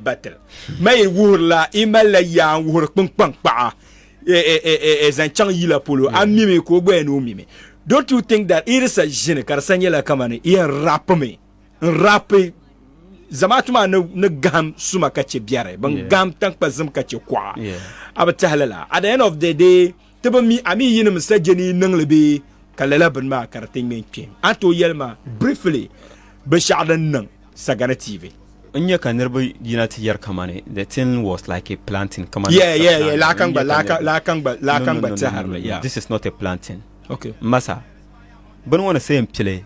batil ma yi wuhiri la i mali la yaa n wuhiri kpinkpaŋ kpaɣa e, e, e, zaŋ chaŋ yila polo a mimi ka o gbaya ni o mimi don't you think that i di sa ʒini ka di sa nyɛla kamani i yɛn rapimi n rapi zamaatu maa ni gaham suma ka chɛ biɛri bin gaham tankpa zim ka chɛ kuɣa a bi tahi lala at the end of the day Ti bi mi a mi yinim sajɛ ni yi niŋ li bee? Ka lala bini maa ka di ti ŋme n-kpe. A tooi yɛli ma, briefly, binshɛɣu din niŋ Sagana TV? N nya ka niriba yina ti yɛri kamani the thing was like a planting, kamani Yeah, yeah, yeah, lahi ka n-gba, lahi ka, lahi ka n-gba, lahi ka n-gba tɛhiri li, yeah. This is not a planting. Okay. M ma sa, bini ŋɔ ni seei m-pili.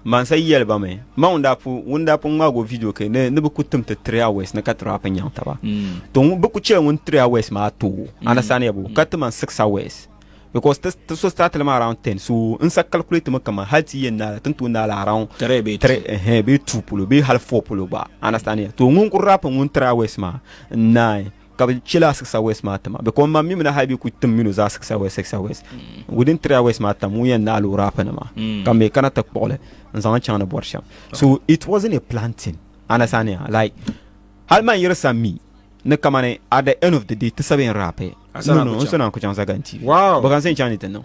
Mansa yi yɛli ba mi, ma ŋun daa pu ŋun daa pun ŋmaag o vidio kɛ ni ni bi ku tim ti Three Hours ni ka ti rap nyaŋ taba. Mm. To ŋun bi ku chɛ ŋun Three Hours maa too. Mm. Understand ya bo? Mm. Ka ti man Six Hours. Because ti ti so start li ma around ten. So n sa calculate mi kaman hali ti yɛn naala tin too naala around Three bee two. three eh bee two polo bee hali four polo gba. Understand ya? To ŋun ku rap ŋun Three Hours maa n naai ka bi chɛ la siɣisa west maa tima bɛ kɔm ma mi mina hali bi ku tim minu zaa siɣisa west siɣisa west mm. within three hours maa tam ŋun yɛn naɣi loori afa nima mm. ka mi kana ti kpuɣili n zaŋ chaŋ ni bɔri shɛm so it wasn't a planting understand ya like hali man yiri sa mi ni kamani at the end of the day ti sabi n rape no no n sɔna ku chaŋ zaganti wow bɛ kan sɛn chaŋ ni ti niŋ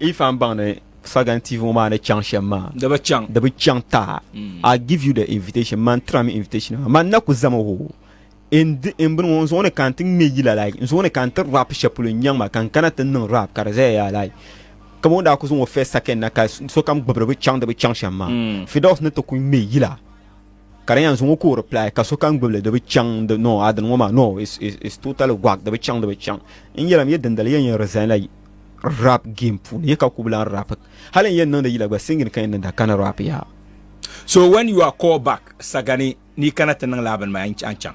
Ifan baŋ ni Fagan TV ŋɔ maa ni chaŋ shem maa. Di bi chaŋ. Di bi chaŋ taa. Mm. I give you the invitation. Man tira mi invitation maa. Man na ku zami ho. In in bini ŋɔ n zuɣu ni ka n ti ŋme yila like. N zuɣu ni ka n ti rap sheli polo n nyaŋ ma ka n kana ti niŋ rap ka di zaya yaa like. Ka bo n daa ku zuŋ o first second na ka sokam gbibiri bi chaŋ di bi chaŋ shem maa. Mm. Fidos ni ti ku ŋme yila. Ka di yan zuŋɔ ka o reply ka sokam gbibili di bi chaŋ di no adin ŋɔ maa no is is is totally gwag di bi chaŋ di bi chaŋ n yɛli mi yɛ dindali yɛn yɛn resign la rap game puuni yɛ ka ku bi lan rap hali n yɛn niŋdi yila gba singing ka yɛn niŋda ka ni rap ya So when you are called back sagani ni yi kana ti niŋ lala bini maa a ni chaŋ.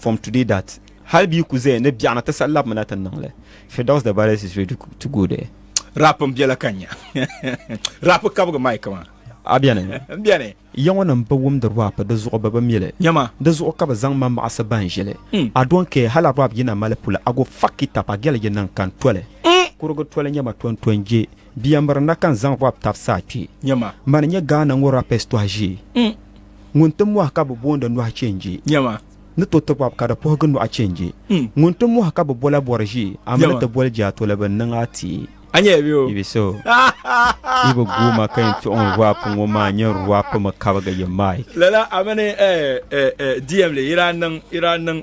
from today that hali bi ku zaya ni biɛɣuna ti sa labimina ti niŋ li Firdaus the baddest is ready to go there rap n biɛla ka nya rap kabigi mic maa a bɛni n bɛni yaŋɔ nim bi wumdi rap di zuɣu bi bi mili nyɛma di zuɣu ka bi zaŋ ma maɣasi ban ʒili hmm. a don care hala rap yina mali pula a go fuck it up a gɛli yi niŋ kan toli hmm. kurugu toli nyɛma ton ton je biɛmiri na kan zaŋ rap tabisa a kpee nyɛma mani nyɛ gaana ŋɔ rapes tɔhi ʒee hmm. ŋun ti mɔhi ka bi booni nɔhi chenji. Nyama. Ni to ti bɔb ka di puhigi nɔhi chenji. Hmm. Ŋun ti mɔhi ka bi bola bɔri ʒi, a mi ni ti boli jaa toli bi niŋ a ti. A nyɛla bɛ o. Ibi so. Ibi guuma ka yɛn tuɣi n rap ŋɔ maa nyɛ rap mi kabigi yi mic. Lala a mini eh eh eh DM li ira niŋ ira niŋ.